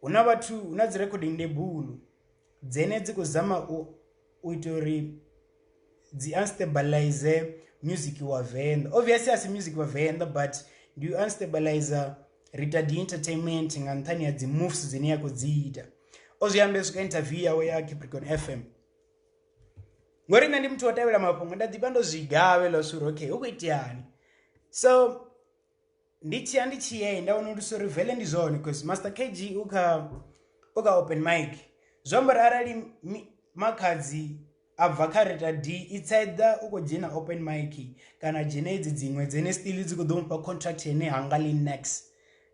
hu na vhathu hu na dzi recording ndebulo dzine dzi khou zama u ita uri dzi unstabilize music wa venḓa obviously asi music wa venḓa but ndi u unstabilize rita di entertainment nga nṱhani ha dzi moves dzine ya khou dzi ita o zwi ambe swika interview yawe ya capricorn f m ngori nṋe ndi muthu wo tevhela mafhungo nda ḓivha ndo zwi gavhe ḽa suri okay hu khou iteani so ndi tshi ya ndi tshi ye nda wana uri sorry vele ndi zwone because master kg u kha u kha open mic zwi amba uri arali makhadzi a bva kha reta d i tsaeḓa u khou dzhena open mic kana dzhena edzi dziṅwe dzene still dzi khou ḓo mufha contract yene hanga li nex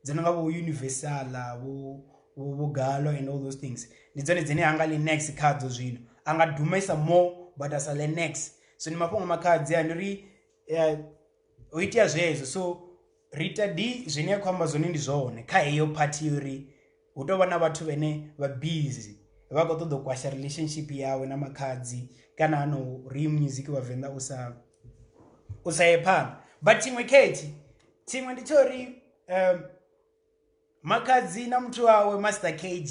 dzi no nga vho universala vho vho galo and all those things ndi dzone dzine hanga li nex khadzo zwino a nga dumesa more but a sa le nex so ndi mafhungo makhadzi a ndi ri eh, ho itea zwezwo so ri ita di zwine a khou amba zwone ndi zwone kha heyo phathi ya uri hu tovha na vhathu vhane vha bizi vha khou ṱoḓa u kwasha relationship yawe na makhadzi kana ha no ri music vhavenḓa u sa u sa ye phanḓa but tshiṅwe khethi tshiṅwe ndi tsha uri um makhadzi na muthu wawe master kg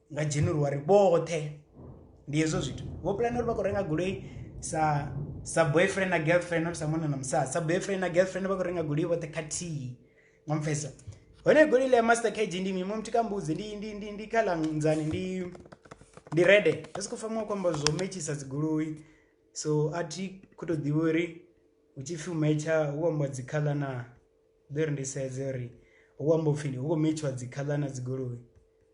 nga January vhoṱhe ndi hezwo zwithu vho puḽana uri vha khou renga goloi sa sa boyfriend na girlfriend not sa munna na musadzi sa boyfriend na girlfriend vha khou renga goloi vhoṱhe khathihi nga mupfesa hone goloi ḽa master kg ndi mimo muthu ka mbudzi ndi ndi ndi ndi khala nzani ndi ndi rede ndi si khou fanela u khou amba zwo metshisa dzigoloi so a thi khou tou ḓivha uri hu tshi pfhi u metsha hu amba dzi khaḽa na ḓo ri ndi sedze uri hu amba upfhi hu khou metshiwa dzi khaḽa na dzigoloi.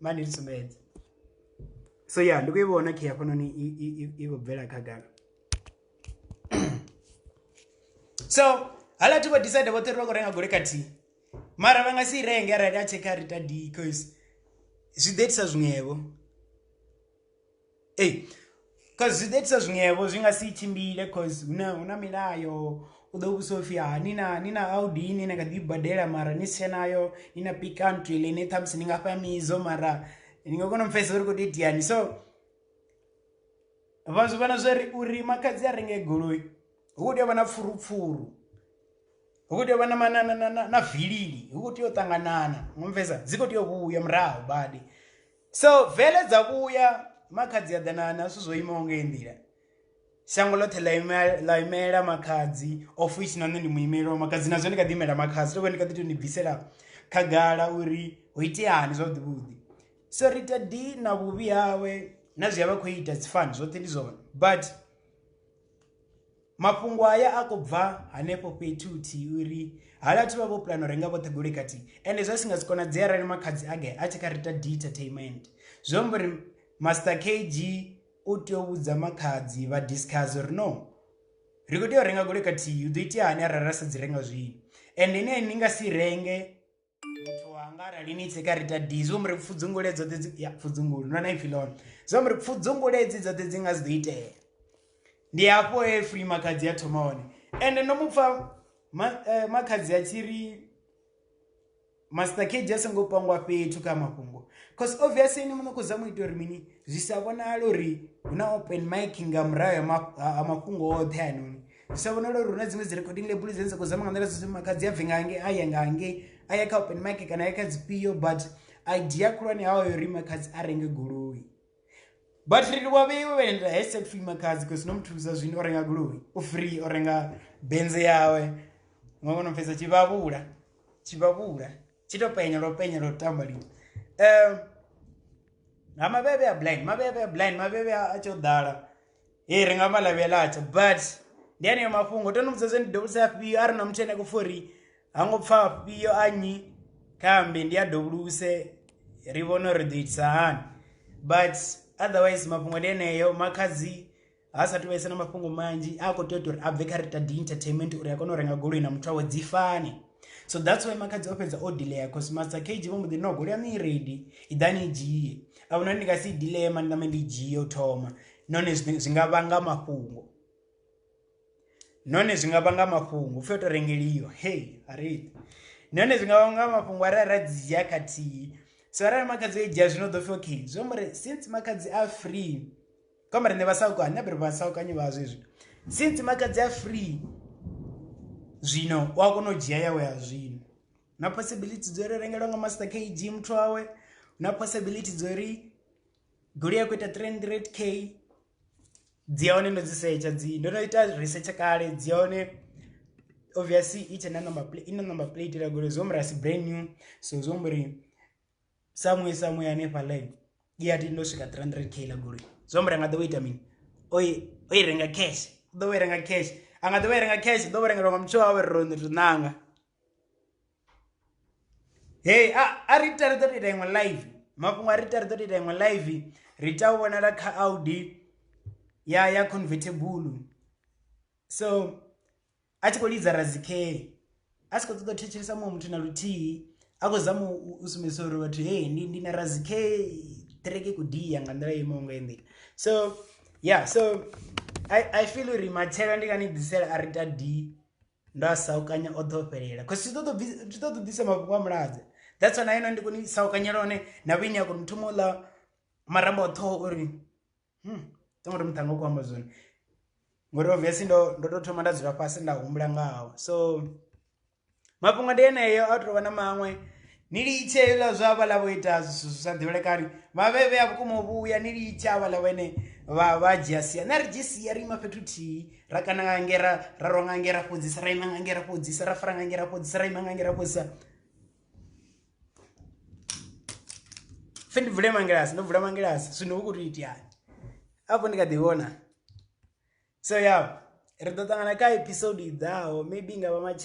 mani ni sumbedze so ya ndi khou i vhona khe hafhanoni i khou bvela khagala so hala thi vho decide vhoṱhe ri vha khou renga gole khathihi mara vha nga si i renge arali a tshekha rita d cause zwi ḓo itisa zwiṅwevho ei cause zwi ḓo itisa zwiṅwevho zwi nga si tshimbile cause hu na hu na milayo u ḓo vhudzisa upfhi ha ni na ni na audi ine na kha ḓi i badela mara ni si tshe nayo ni na pick country ḽine ṱhamusi ni nga fha midzo mara ni nga kona u pfhesesa uri khou tou itiani so vha zwi vhona zwa ri uri makhadzi a renge goloi hu khou tea u vha na pfurupfuru hu khou tea u vha na na na na na vilili hu khou tea u ṱanganana ngo pfhesesa dzi khou tea u vhuya murahu badi so vele dza vhuya makhadzi a ḓa na na zwithu zwo imaho nga iyi nḓila shango ḽoṱhe ḽa imela ḽa imela makhadzi ofisi na nṋe ndi muimeli wa makhadzi nazwo ndi kha ḓi imela makhadzi tovha ndi kha ḓi to ni bvisela khagala uri ho iteani zwavhuḓi vhuḓi so ri ita di na vhuvhi hawe na zwi a vha khou ita dzi fani zwoṱhe ndi zwone but Mafhungo haya a khou bva hanefho fhethu huthihi uri hala vhathu vha vho puḽana u renga vhoṱhe goloi khathihi ende zwa si nga si konadzea arali makhadzi a ge a tshi kha ri ita detertainment zwi amba uri master kg u tea u vhudza makhadzi vha discuss uri no ri kho tea u renga goloi khathihi hu do itea hani arali ra sa dzi renga zwino ende ine ni nga si renge. muthu wanga arali ni tsheka ri tadii zwo muri pfudzungule dzoṱhe dzi ya pfudzungule nona ipfi lone zwo muri pfudzungule dzi dzoṱhe dzi nga si ḓo itea ndi hafho he free makhadzi ya thoma hone ende ndo mu pfa eh, makhadzi a tshi ri master kg a songo pangwa fhethu kha mafhungo cause obviously ni muno khou zama u ita uri mini zwi sa vhonala uri hu na open mic nga murahu ha mafhungo oṱhe anoni sa vhonala uri hu na dziṅwe dzi recording label dzine dza khou zama nga nḓila dzoṱhe makadzi a bve nga hange a ye nga hange a ye kha open market kana a ye kha dzifhio but idea khulwane hawa yo ri makadzi a renge goloi but ri livha vheiwe vhaenda hashtag free makadzi because no muthusa zwino o renga goloi u free o renga benze yawe nga kono pfesa tshivhavhula tshivhavhula tshi to penya lwo penya lwo tamba lini um ha mavhevhe a blind mavhevhe a blind mavhevhe a tsho ḓala e ri nga vha lavhelatsa but ndi aneyo mafhungo to no vhudza zwe ndi dovhusa afhio a ri na muthu ene kho fori ha ngo pfha afhio a nnyi khambi ndi a dovhuluse ri vhone uri ri ḓo itisa hani but otherwise mafhungo ndi eneyo makhadzi ha sa tuvhese na mafhungo manzhi a khou tea u tou uri a bve kha rita d entertainment uri a kone u renga goloi na muthu awe dzi fane so that's why makhadzi o fhedza o delay cause master kg vho mbo ḓi no golea ni ready i ḓa ni dzhie a huna ndi nga si delay mani name ndi dzhie u thoma nahone zwi nga vhanga mafhungo nahone zwi nga vhanga mafhungo upfhi o to rengeliwa hey ari nahone zwi nga vhanga mafhungo arali ra dzi dzhia khathihi so arali makhadzi o i dzhia zwino ḓo pfhi okay zwi amba uri since makhadzi a free ka mara ne ba sa ukanye bere ba sa ukanye ba zwezwi since makadzi a free zwino wa kona u dzhia yawe ya zwino na possibility dzo ri rengelwa nga master kg muthu wawe na possibility dzo ri goloi ya khou ita 300 k dzi ya hone ndo dzi setsha dzi ndo no ita research kale dzi ya hone obviously i tshe na number plate i na number plate la goloi zwo murasi brand new so zwo mbori Samuel Samuel hanefha line ye ya tenda u swika 300 k ḽa goloi zwi amba uri a nga ḓo vha ita mini o i o i renga cash u ḓo vha i renga cash a nga ḓo vha i renga cash u ḓo vha rengelwa nga muthu wawe ro ri ṋanga hei a a ri ita ri ḓo ita iṅwe live mafhungo a ri ita ri ḓo ita iṅwe live ri ita u vhonala kha Audi ya ya convertible so a tshi khou lidza razikeli a si khou ṱoḓa u thetshelesa muṅwe muthu na luthihi a khou zama u sumbedzisa uri vhathu hei ndi ndi na razike ṱireke ku dia nga nḓila imaho nga nḓila so ya so i i feel uri matshelo ndi nga ni ḓisela a ri ta d ndo a saukanya o ḓo fhelela cause zwi ṱoḓo zwi ṱoḓo ḓisa mafhungo a muladze that's why na ino ndi koni saukanyela hone na vhuini a kona u thoma u ḽa marambo a ṱhoho uri hmm. tongo ri muṱhanga u khou amba zwone ngori obviously ndo ndo to thoma nda dzula fhasi nda humbula ngaho so mafhungo ndi eneyo a tovha na maṅwe ni litshe la zwa vha la vho ita zwithu zwi sa ḓivhelekani vha vhe vhe a vhukuma u vhuya ni litshe a vha la vhene vha vha dzhia sia na ri dzhi sia ri ima fhethu thihi ra kana nga nge ra ra ronga nge ra fhodzisa ra ima nga nge ra fhodzisa ra fara nga nge ra fhodzisa ra ima nga nge ra fhodzisa pfhe ndi vule mangilasi ndo vula mangilasi zwino hu khou tou itiani afho ndi kha ḓi vhona so ya ri ḓo ṱangana kha episode i ḓaho maybe i nga vha matshi.